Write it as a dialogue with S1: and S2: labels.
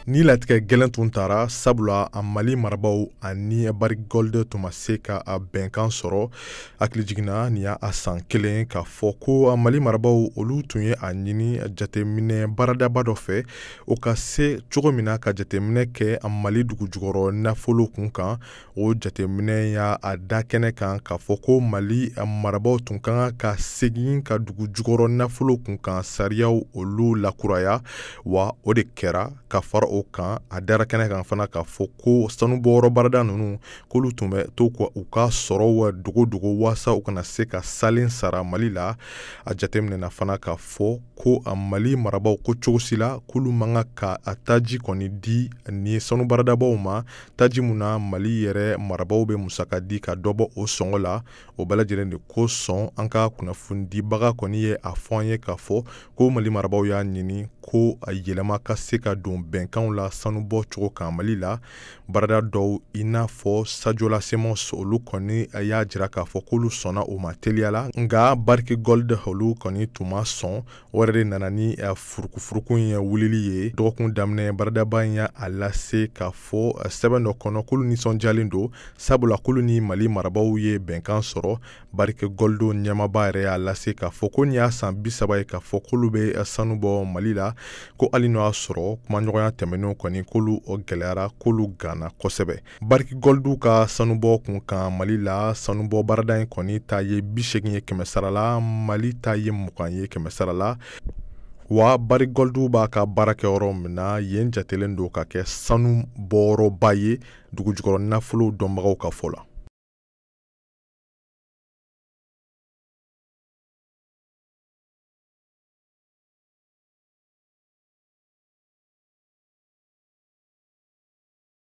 S1: nin latigɛ gɛlɛn tun tara sabula a mali marabaw ani barrick gold tun ma se ka a bɛnkan sɔrɔ hakilijigin na nin y'a a san kelen k'a fɔ ko a mali marabaw olu tun ye a ɲini jateminɛ baaradaba dɔ fɛ o ka se cogo min na ka jateminɛ kɛ a mali dugu jukɔrɔ nafolo kun kan o jateminɛ y'a a da kɛnɛ kan k'a fɔ ko mali marabaaw tun ka kan ka segin ka dugu jukɔrɔ nafolo kun kan sariyaw olu lakuraya wa o de kɛra ka fara o kan a dara kɛnɛ kan fana k'a fɔ ko sanubɔyɔrɔ baarada ninnu k'olu tun bɛ to ka u ka sɔrɔw dogo dogo waasa u kana se ka salen sara mali la a jateminɛna fana k'a fɔ ko a mali marabaaw ko cogo si la k'olu man kan ka a taji kɔni di nin sanu baaradabaw ma taji mun na mali yɛrɛ marabaw bɛ musaka di ka dɔ bɔ o sɔngɔ la o bɛɛ lajɛlen de kosɔn an ka kunnafonidibaga kɔni ye a fɔ an ye k'a fɔ ko mali marabaw y'a ɲini ko a yɛlɛma ka se ka don bɛnkanw la sanubɔ cogo kan mali la baarada dɔw i n'a fɔ sadiola semos olu kɔni y'a jira k'a fɔ k'olu sɔnna o ma teliya la nka barrick gold olu kɔni tun ma sɔn o yɛrɛ de nana ni eh, furukufuruku in wulili ye dɔgɔkun daminɛ baaradaba in y'a a lase k'a fɔ eh, sɛbɛn dɔ kɔnɔ k'olu nisɔndiyalen don sabula k'olu ni mali marabaw ye bɛnkan sɔrɔ barrick gold ɲɛmaaba yɛrɛ y'a lase k'a fɔ ko nin y'a san bi saba ye k'a fɔ k'olu bɛ eh, sanu bɔ mali la ko hali n'o y'a sɔrɔ kumaɲɔgɔnya tɛmɛnenw kɔni k'olu gɛlɛyara k'olu ganna kosɛbɛ barrick gold ka sanubɔ kun kan mali la sanubɔ baarada in kɔni ta ye bi segin ye kɛmɛ sara la mali ta ye mugan ye kɛmɛ sara la wa barrick gold b'a ka baara kɛ yɔrɔ min na yen jatelen don ka kɛ sanu bɔyɔrɔba ye dugujukɔrɔ nafolow dɔnbagaw ka fɔ la